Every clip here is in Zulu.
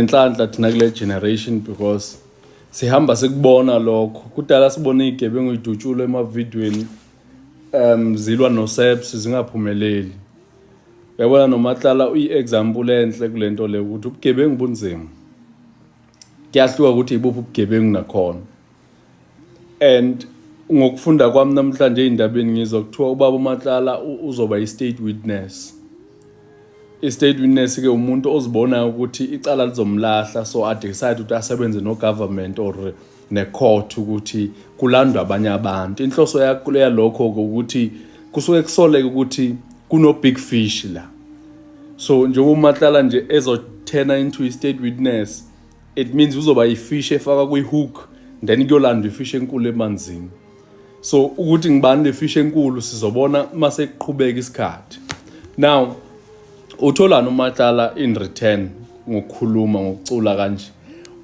Inhlanhla thina kule generation because sihamba sikubona lokho kudala sibona igebengu idutshulwa emavidweni um zilwa noseps zingaphumeleli yabona nomatlala uyi-example enhle kule nto le ukuthi ubugebengu bunzima kuyahluka ukuthi ibuphi ubugebengu nakhona and ngokufunda kwami namhlanje ey'ndabeni ngizwa kuthiwa ubaba umatlala uzoba i-state witness i-state witness-ke umuntu ozibonayo ukuthi icala lizomlahla so adecide ukuthi asebenze no-government or ne-court ukuthi kulandwa abanye abantu inhloso yalokho-ke ukuthi kusuke kusoleke ukuthi kuno-big fish la so njengoba umatlala nje ezothena into i-state witness it means uzoba ifish efaka kwi-hook then kuyolandwa ifish enkulu emanzini so ukuthi ngibani le fish enkulu sizobona uma sekuqhubeka isikhathi now utholani umatlala in return ngokukhuluma ngokucula kanje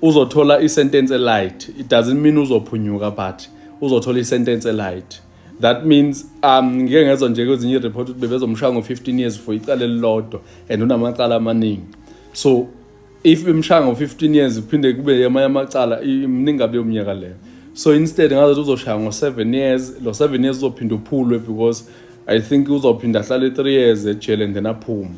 uzothola isentence elight it doesn't mean uzophunyuka but uzothola isentence elight that means um ngike ngezwa nje kwezinye i-report ukuthi bebezomshaya ngo-15 years for icala elilodwa and unamacala amaningi so if bemshaya ngo-15 years kuphinde kube amanye amacala mningi kabi yomnyaka leyo so instead ngazathi uzoshaya ngo-7 years lo 7 years uzophinde uphulwe because i think uzophinde ahlale 3 years ejele and then aphume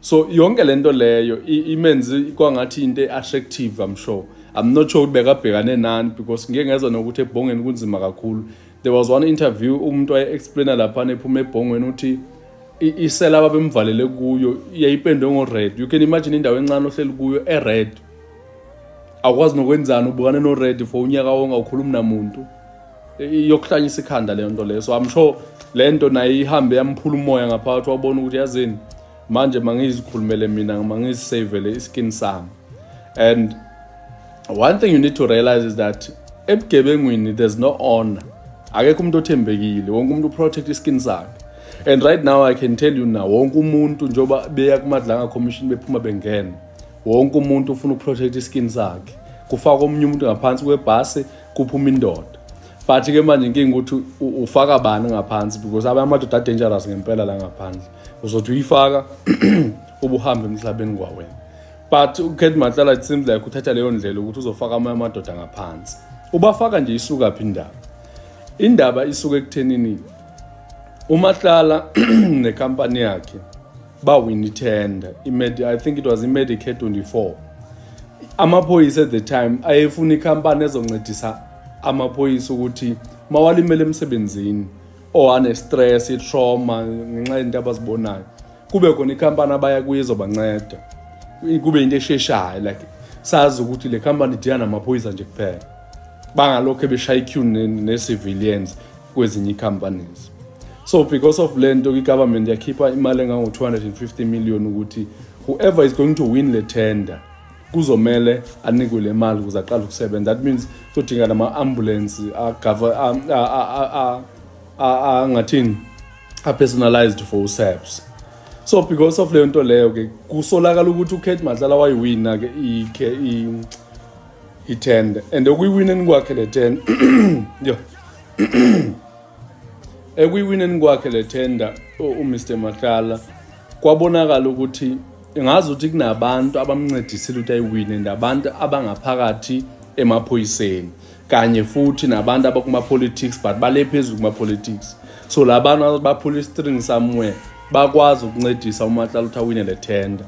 so yonke le nto leyo imenze kwangathi into e-attractive i'm sure i'm not sure ukuthi bekabhekane nani because ngike ngezwa nokuthi ebhongeni kunzima kakhulu there was one interview umuntu waye-explaina laphana ephuma ebhongweni ukuthi isela ababemvalele kuyo yayipendwe ngo-red you can imagine indawo encane ohleli kuyo e-red awukwazi nokwenzani ubukane no-red for unyaka wonke awukhulumi namuntu iyokuhlanyisa ikhanda leyo nto leyo so i'm sure le nto naye ihambe yamphula umoya ngaphakathi wabona ukuthi yazini manje mangizikhulumele mina mangizisavele iskin sami and one thing you need to realize is that ebugebengwini there's no honor akekho umuntu othembekile wonke umuntu uprotect iskin sakhe and right now i can tell you now wonke umuntu njengoba beya kumadlanga commission bephuma bengena wonke umuntu ufuna ukuprotect iskin sakhe kufaka omunye umuntu ngaphansi kwebhasi kuphuma indoda but ke manje inkinga ukuthi ufaka bani ngaphansi because abanye amadoda adangerous ngempela la ngaphandle uzothi uyifaka ubuhambe emhlabeni kwawena but ukhethi mahlala it seems like uthatha leyo ndlela ukuthi uzofaka amanye amadoda ngaphansi ubafaka nje isuka phi indaba indaba isuke ekuthenini umahlala nekampani yakhe bawini tender i think it was imedicare 24 amaphoyisa at the time ayefuna ikhampani ezoncedisa amaphoyisa ukuthi mawalimele emsebenzini or anestress itrauma ngenxa yento abazibonayo kube khona ikhampani abaya kuyo ezobanceda kube into esheshayo like sazi ukuthi le company idila namaphoyisa nje kuphela bangalokho beshaya iqueue ne-civilians kwezinye i-companies so because of le nto i-government yakhipha imali engango-250 million ukuthi whoever is going to win le tender kuzomele anikwe le mali ukuze aqale ukusebenza that means kuzodinga nama-ambulance angathini apersonalized for usaps so because of leyo nto leyo ke kusolakala ukuthi ukate madlala wayiwina ke i-tend and ekuyiwineni kwakhe le ten yo ekuyiwineni kwakhe le tender umr madlala kwabonakala ukuthi ngazi ukuthi kunabantu abamncedisile ukuthi ayiwine and abantu abangaphakathi emaphoyiseni kanye futhi nabantu abakuma-politics but bale phezulu kuma-politics so la bantu baphula istring somewhere bakwazi ukuncedisa umatlala ukuthi awine le tender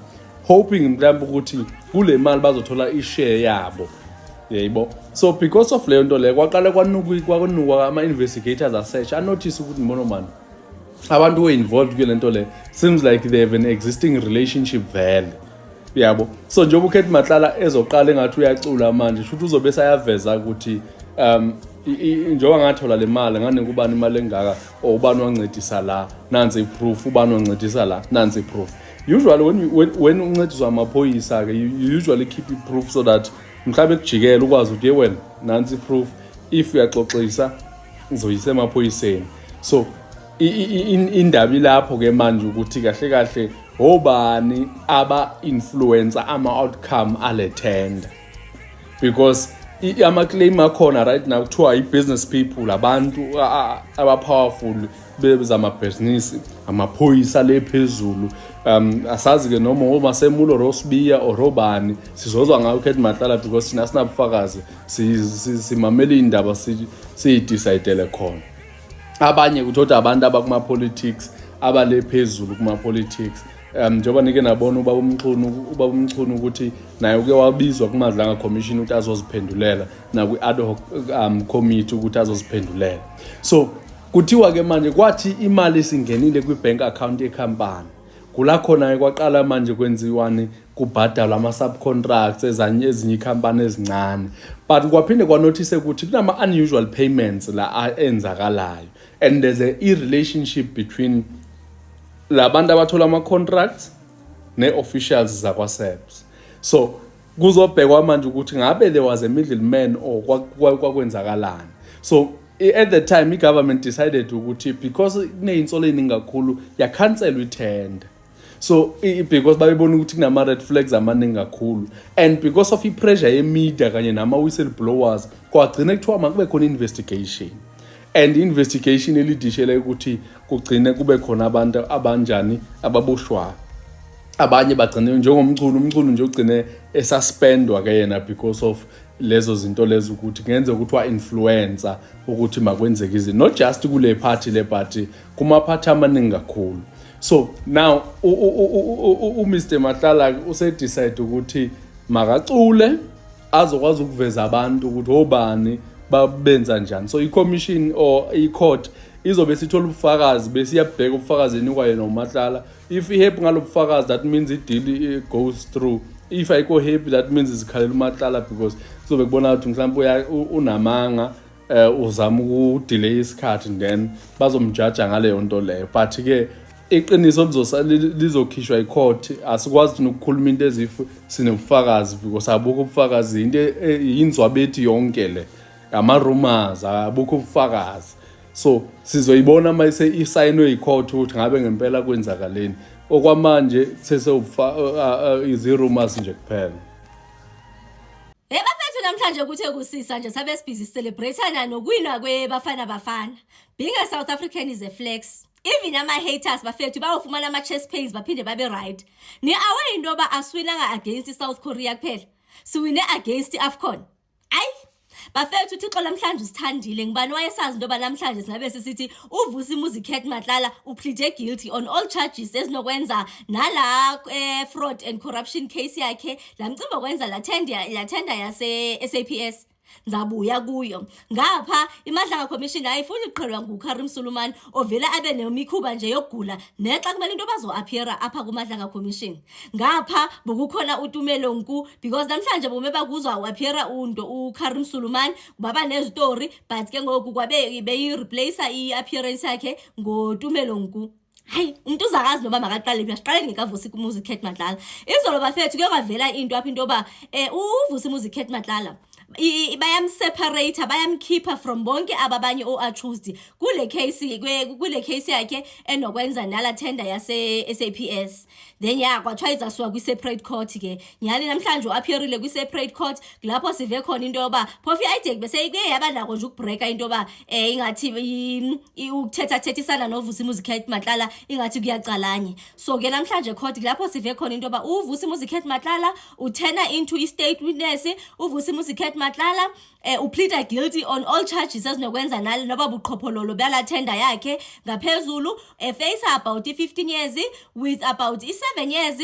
hoping mhlawumbe ukuthi kule mali bazothola ishare yabo yayibo so because of leyo nto leyo kwaqale kwanukwa ama-investigators asearch anothise ukuthi mbona mani abantu who involved kule nto le seems like they have an existing relationship vele yabo so njengoba ukhethi matlala ezoqala engathi uyacula manje shuthi uzobe sayaveza ukuthi um njengoba ngathola le mali nganika ubani imali engaka or ubani wancedisa la nansi iproof ubani wancedisa la nansi iproof usually when, when, when uncediswa amaphoyisa-ke you usually keep iproof so that mhlawumbe kujikela ukwazi ukuthi ye wena nansi iproof if uyaxoxisa ngizoyisa emaphoyiseni so indaba ilapho ke manje ukuthi kahle kahle obani aba influencer ama outcome ale tender because ama claim akhona right now kuthiwa i business people abantu aba powerful bezama business amaphoyisa le phezulu um asazi ke noma uma semulo Rosbiya or obani sizozwa ngayo Kate Matlala because thina sinabufakazi simamele iy'ndaba siyidicayidele khona abanye kuthoda abantu abakuma-politics abale phezulu kuma-politics um njengoba nike nabona uba umchunu uba umchunu ukuthi naye uke wabizwa kumadlanga commission ukuthi azoziphendulela nakwi-ad hoc um committee ukuthi azoziphendulela so kuthiwa-ke manje kwathi imali isingenile kwi-bank account yekhampani kula khona-ke kwaqala manje kwenziwani kubhadalwa ama-subcontracts ezinye iy'khampani ezincane but kwaphinde kwanothise ukuthi kunama-unusual payments la enzakalayo and there's a i-relationship between la bantu abathola ama-contracts ne-officials zakwaseps so kuzobhekwa manje ukuthi ngabe there was a middle man or kwakwenzakalani so at the time i-government decided ukuthi because kuneyinsolo eyiningi kakhulu yakhanselwa ithenda so because babebona ukuthi kunama-red flags amaningi kakhulu and because of i-pressure yemedia kanye nama-whistle blowers kwagcina kuthiwa makube khona investigation and investigation elidishele ukuthi kugcine kube khona abantu abanjani ababoshwayo abanye bagcine njengomculo umculo nje ugcine esuspendwa ke yena because of lezo zinto lezo ukuthi kungenzeka ukuthi wa-influencer ukuthi makwenzeke izinto not just kule party le party kumaphathi amaningi kakhulu so now uMr Mahlala usedecide ukuthi makacule azokwazi ukuveza abantu ukuthi obani babenza njani so i-commission or i-court izobe sithola ubufakazi bese iyabheka ubufakazi enikwa yena umahlala if i-happy ngalo bufakazi that means i-deal goes through if ayikho happy that means izikhalela umahlala because kuzobe kubona ukuthi mhlawumbe unamanga eh uzama ukudelay isikhathi then bazomjaja ngaleyo nto leyo but ke iqiniso lizokhishwa icourt asikwazi thina ukukhuluma into ezifu sinobufakazi because abukho ubufakazi into e, yinzwabethi yonke le ngama-rumors abukho ubufakazi so sizoyibona uma isayinwe yicourt ukuthi ngabe ngempela kwenzakaleni okwamanje sesewubufa izirumors nje kuphela Hey bafethu namhlanje kuthe kusisa nje sabe sibhizi celebrateana nokuwina kweBafana Bafana. Being a South African is a flex. Even ama haters bafethu bawufumana ama chest pains baphinde babe right. Ni away into ba aswinanga against South Korea kuphela. Siwine against Afcon. Ay bafethu uthixo namhlanje usithandile ngibani wayesazi into yoba namhlanje singabe sisithi uvusa imuzi cat matlala uplede guilty on all charges ezinokwenza nala um fraud and corruption case yakhe la mcimbi okwenza la tender la tender yase SAPS ngizabuya kuyo ngapha imadlanga commission ayifuni ukuqhelwa ngukarim sulumani ovele abe nemikhuba nje yokugula nexa kumele into bazo-appeara apha kumadlanga commission ngapha bokukhona utumelo nku because namhlanje bome bakuzwa u-appeara unto ukarim sulumani baba nezitori but ke ngoku kwabe beyi-replace i-appearance yakhe ngotumelo nku hayi umuntu uzakazi noma makaqale phi asiqale ngekavusi kumuzi Kate Madlala izolo bafethu kuyovavela into apha into yoba eh uvusi muzi Kate Madlala bayamseparate bayamkhipha from bonke ababanye o-accused kule case kule case yakhe enokwenza nala tender yase-saps then ya kwathiwa izasuka kwi-separate court ke nyhani namhlanje u-appearile kwi-separate court lapho sive khona into yoba phofu i-idek bese kuye yaba nako nje ukubhreka into yoba um ingathi i- ukuthethathethisana novusi muzikhet matlala ingathi kuyacalanye so ke namhlanje court kulapho sive khona into yoba uvusi muzikhet matlala uthena into i-state witness uvusi muzikhet matlala um upleader guilty on all charges ezinokwenza nale noba buqhophololo bala tender yakhe ngaphezulu efeyisa about i-fifteen years with about i-seven years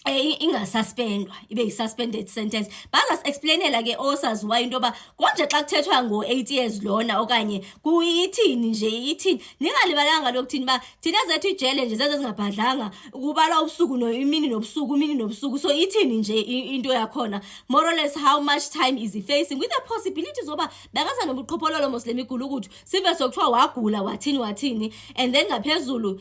Eh, ingasuspendwa ibe yi-suspended sentence bazasi-explainela ke osaziwayo into yoba konje xa kuthethwa ngo-eight years lona okanye kuyithini nje ithini ningalibalanga lokuthini uba thina zethu ijele nje zeze zingabhadlanga kubala ubusuku imini nobusuku imini nobusuku so ithini nje into yakhona more or less how much time is he facing with the possibility zoba bekaza nobuqhophololo mos le migulukudu sive sokuthiwa wagula wathini wathini and then ngaphezulu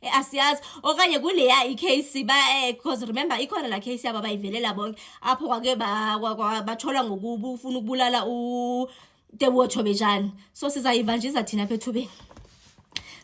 Eh, asiyazi okanye kuleya i-case because eh, remember ikhona la case yabo abayivelela bonke apho kwake bathola ngokufuna ukubulala utebotho bejani so sizayivanjisa thina pha ethubeni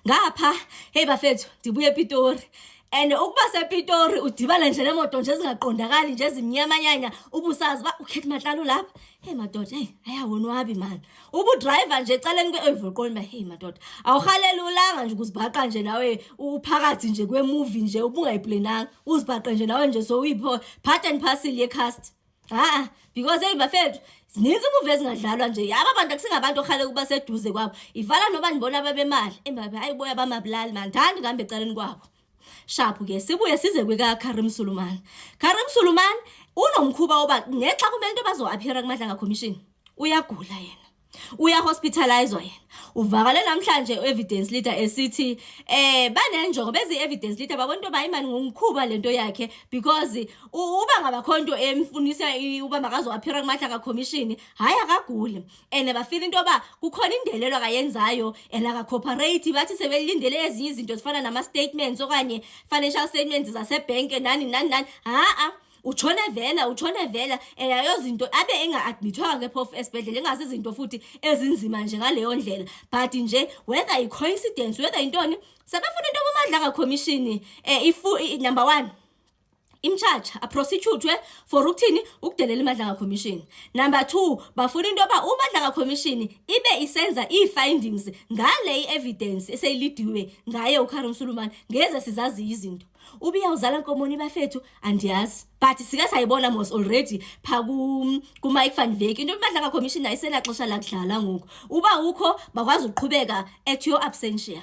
ngapha heyi bafethu ndibuye epitori and ukuba sepitori udibane nje nemoto nje ezingaqondakali nje ezimnyamanyanya ubusazi uba ukhethi matlalo lapha heyi madoda heyi ayawonwabi mani ubudrayiva nje eceleni kwe-evoqoni bahey madoda awuhalele ulanga nje ukuzibhaqa nje nawe uphakathi nje kwemuvi nje ubungayiplenanga uzibhaqe nje nawe nje so uyipho part and parcel yecast ha because eyi bafethu zininzi imuvi ezingadlalwa nje yaba abantu akusingabantu okhale ukuba seduze kwabo ivala noba ndibona babemali embabe hayi boya bamabulali mandithandi kuhambe eceleni kwabo shaphu ke sibuye size kwika Karim Suluman Karim Suluman unomkhuba oba ngexa kumele into bazoaphira kumadlanga commission uyagula yena uya hospitalizwa yena uvakale namhlanje evidence leader esithi eh banenjongo bezi evidence leader babona into bayimani ngumkhuba lento yakhe because uba ngabakhonto emfunisa uba makazoaphira kumadlanga commission hayi akaguli and bafila into yoba kukhona indelelo akayenzayo and akacorporate bathi sebelindele ezinye izinto zifana nama-statements okanye financial statements zasebhenke nani nani nani ha-a utshone vela utshone vela and ayozinto abe enga-admithwanga ke phofu esibhedlela ingase izinto futhi ezinzima nje ngaleyo ndlela but nje whether i-coincidence whether yintoni sebefuna into bomandla kakhomishini um eh, number one imcharge aprosecutwe for ukuthini ukudelela imadlanga commission number two bafuna into yoba umadlanga commission ibe isenza ii-findings ngale i-evidence eseyilidiwe ngaye ucaron sulumane ngeze sizaziyo izinto ubiyawuzala nkomoni bafethu andiyazi but sike sayibona mos already pha kumike van veki into yomadlanga commission ayisenaxesha lakudlala ngoku uba ukho bakwazi ukuqhubeka at your absentia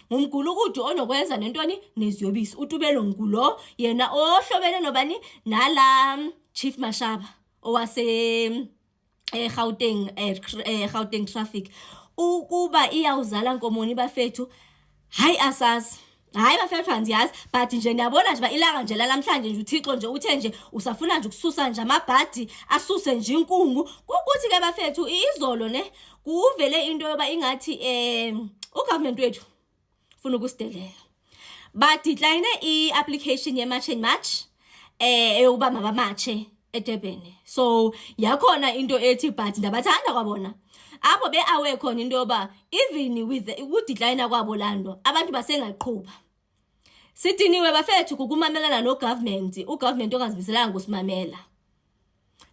ngumgulukudu onokwenza nentoni neziyobisi utubelo ngulo yena ohlobene nobani nala chief mashaba owase eh Gauteng eh, eh Gauteng traffic ukuba iyawuzala nkomoni bafethu hayi asazi hayi bafethu andiyazi but nje ndiyabona nje uba ilanga nje lalamhlanje nje uthixo nje uthe nje usafuna nje ukususa nje amabhadi asuse nje inkungu kukuthi ke bafethu izolo ne kuvele into yoba ingathi um ugovernment wethu funa ukusidelela badecline i-application ye-march and march um eyokuba mabamatshe edurban so yakhona into ethi but ndabathanda kwabona apho be-awe khona into yoba even with ukudecline kwabo laa nto abantu basengaqhuba sidiniwe bafethu kukumamelana nogovernment ugovernment ongazimiselanga kusimamela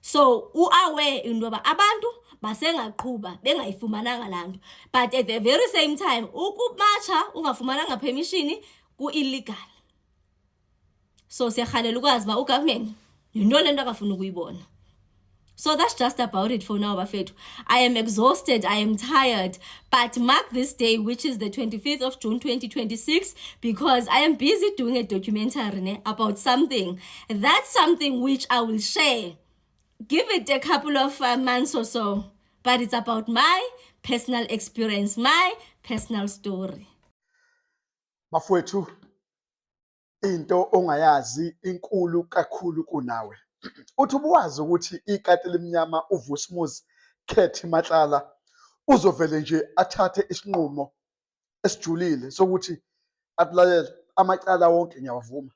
so u-aware into yoba abantu basengaqhuba bengayifumananga laa nto but at the very same time ukumatsha ungafumananga permission ku-illegal so siyarhalela ukwazi uba ugovernment yinto le nto akafuna ukuyibona So that's just about it for now, Bafetu. I am exhausted. I am tired. But mark this day, which is the 25th of June 2026, because I am busy doing a documentary ne, about something. That's something which I will share. Give it a couple of uh, months or so. But it's about my personal experience, my personal story. Bafwethu into ongayazi inkulu kakhulu kunawe. Uthi ubuwazi ukuthi ikati limnyama uVusmuzi Khethi Matlala uzovele nje athathe isinqumo esijulile sokuthi akulalele amacala wonke ngiyawavuma.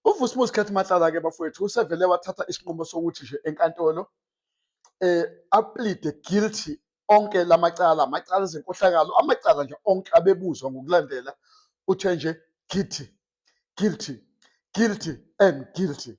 uvusimuzi khethi mahlala-ke bafowethu usevele wathatha isinqumo sokuthi nje enkantolo eh aplide guilty onke lamacala amacala ezenkohlakalo amacala nje onke abebuzwa ngokulandela uthe nje guilty guilty guilty and guilty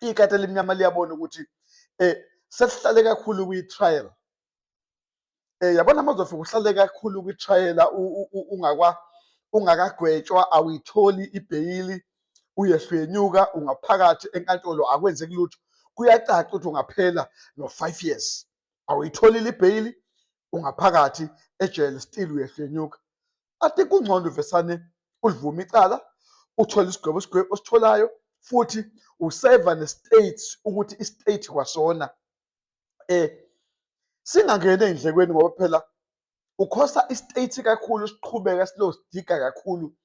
ikati elimnyama liyabona ukuthi eh sesihlale kakhulu kwi-trial eh yabona mazofika uhlale kakhulu kwi-trial ungakwa ungakagwetshwa awuyitholi ibheyili uyehlenyuka ungaphakathi enkantolo akwenzeki lutho kuyacaca ukuthi ungaphela no-five years awuyitholile ibheyili ungaphakathi ejele still uyehlenyuka ati kungcono uvesane ulivume icala uthole isigwebo isigwebo ositholayo futhi useva ne-state ukuthi i-state kwasona eh singangena ey'ndlekweni ngoba phela ukhosa i-state kakhulu siqhubeka silosidiga kakhulu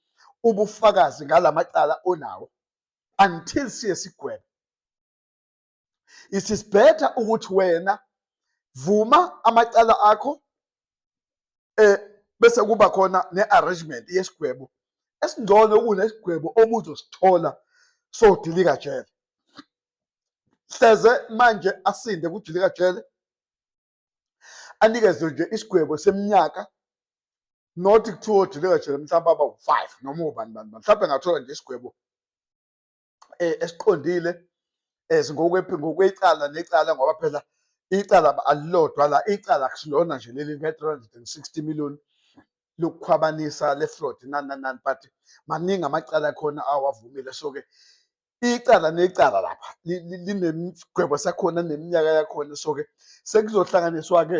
ubufakazi ngala macala onawo until siye sigwebo it is better ukuthi wena vuma amacala akho eh bese kuba khona ne-arrangement yesigwebo esingcono kunesigwebo obuzosithola sodilika jele hleze manje asinde kudilika jele anikezwe nje isigwebo seminyaka not kuthiwa odilika jele mhlawumbe aba u-five noma ubani bani bani mhlawumbe engathola nje isigwebo eh, esiqondile eh, ngokwecala necala ngoba phela icala alilodwa la icala akusilona nje leli ne-360 million lokukhwabanisa le fraud nani nani but maningi amacala khona awavumile so-ke icala necala lapha linemigwebo sakhona neminyaka yakhona so-ke sekuzohlanganiswa-ke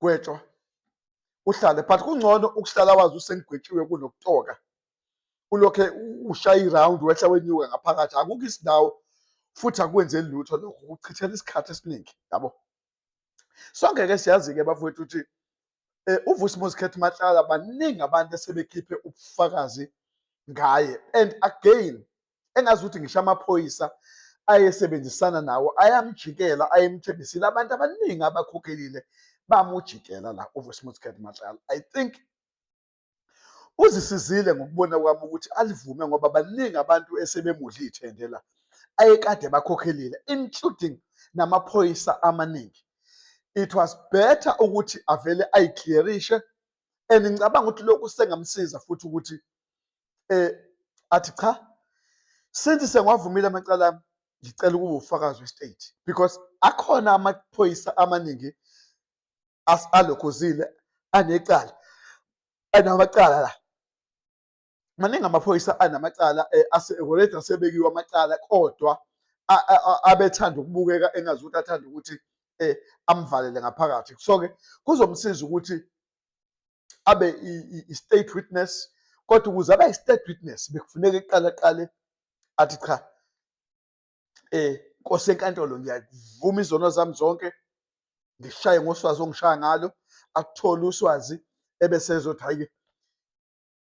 gwetshwa uhlale but kungcono ukuhlala wazi usengigwetshiwe kunokutoka ulokhe ushaya iround wehla wenyuka ngaphakathi akukho isindawo futhi akwenzeli lutho lokho kuchithela isikhathi esiningi yabo sonke ke siyazi-ke bafowethu ukuthi um eh, uvusi mozikhetha mahlala baningi abantu esebekhiphe ubufakazi ngaye and again engazi ukuthi ngisho amaphoyisa ayesebenzisana nawo ayamjikela ayemthembisile abantu abaningi abakhokhelile bamujikela la uVusmutscat Matlala i think uzisizile ngokubona kwami ukuthi alivume ngoba baningi abantu esebemudla ithende la ayekade bakhokhelile including namaphoyisa amaningi it was better ukuthi avele ayiclearishe and ngicabanga ukuthi lokhu sengamsiza futhi ukuthi eh athi cha since sengwavumile amacala ami ngicela ukuba ufakazi westate because akhona amaphoyisa amaningi alokhozile anecala anamacala la maningi amaphoyisa anamacala eh, already asebekiwe amacala kodwa abethanda ukubukeka engazi ukuthi athanda ukuthi eh amvalele ngaphakathi so-ke kuzomsiza ukuthi abe i-state witness kodwa ukuze abe i-state witness bekufuneka iqala qale athi cha eh nkosi enkantolo ngiyavuma izono zami zonke ngishaye ngoswazi ongishaya ngalo akuthole uswazi ebese ezothi hayi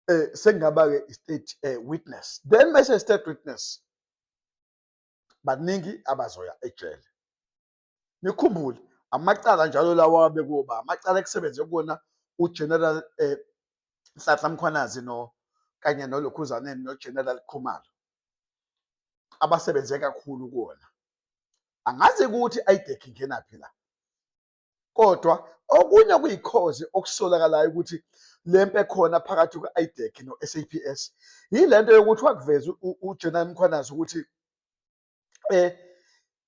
eh sengaba ke state eh, witness then mase state witness baningi abazoya ejele nikhumbule amacala njalo lawa abekuba amacala ekusebenze kuwona uGeneral eh, Nhlanhla Mkhwanazi no kanye noLokhuzaneni noGeneral Khumalo abasebenze kakhulu kuwona angazi ukuthi ayidekh ingenaphi la kodwa okunye kuyikhozi okusolakalayo ukuthi lempe khona phakathi kwe-idec no-saps yilento yokuthi wakuveza ugeneral mkhwanazi ukuthi eh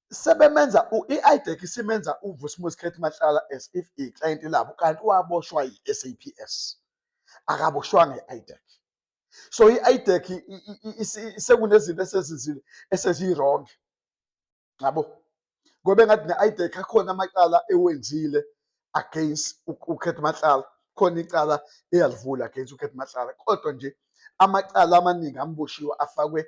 sebemenza i-IDEC isimenza uVusimuzi Khethi Mahlala as if i-client labo kanti waboshwa yi-SAPS akaboshwanga i-IDEC so i-IDEC sekunezinto esezizile eseziyirong ngabo ngoba engathi ne-IDEC akhona amacala ewenzile against uKhethi Mahlala khona icala eyalivula against uKhethi Mahlala kodwa nje amacala amaningi amboshiwe afakwe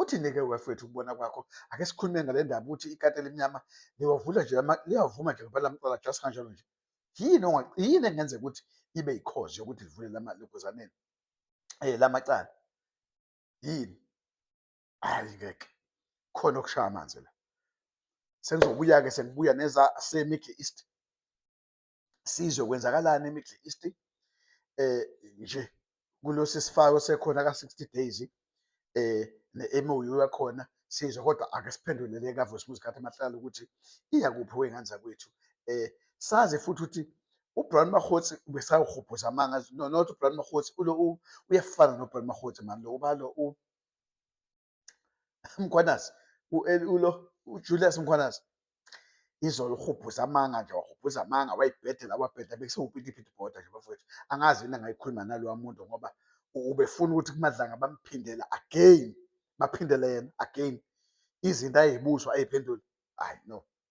Uthini-ke wefethu ukubona kwakho ake sikhulume ngale ndaba ukuthi ikati elimnyama liwavula nje liyavuma nje ngempela amcala just kanjalo nje yini yini engenzeka ukuthi ibe yikhozi yokuthi livule lamalokuzaneni um eh, lamacala yini hayi ngeke khona okushaya amanzi la sengizobuya-ke sengibuya neza semiddle east sizwe kwenzakalani eMiddle East eh nje kulosi sifako sekhona ka 60 days eh ne-MOU yakhona sizwe kodwa ake siphendulele kaVusimuzi Khathi Mahlala ukuthi iya kuphi wengane zakwethu eh sazi futhi ukuthi uBrown Mahotsi besawuhubhuza amanga no not uBrown Mahotsi ulo uyafana noBrown Mahotsi manje lo ubalo u mkhwanazi ulo ujulius mkhwanazi izolo uhubhuza amanga nje wahubhuza amanga wayibhedela wabheda bekusiwupitipithi boda nje bafowethu angazi yini angayikhuluma nalowa muntu ngoba ubefuna ukuthi kumadlanga bamphindela again baphindele yena again izinto ayibuzwa ayiphenduli hayi no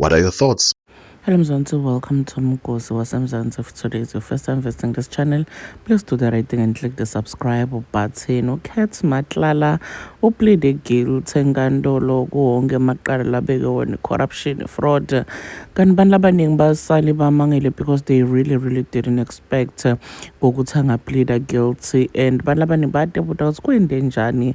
What are your thoughts? Hello Mzansi, welcome to Mgosi waseMzansi. If today is your first time visiting this channel, please do the right thing and click the subscribe button. Ucat Matlala uplede guilty enkantolo kuwonke amaqala labeke wona corruption, fraud. Kanti abantu abaningi basale bamangele because they really really didn't expect ukuthi angapleda guilty and abantu abaningi badebuta ukuthi kuyinto enjani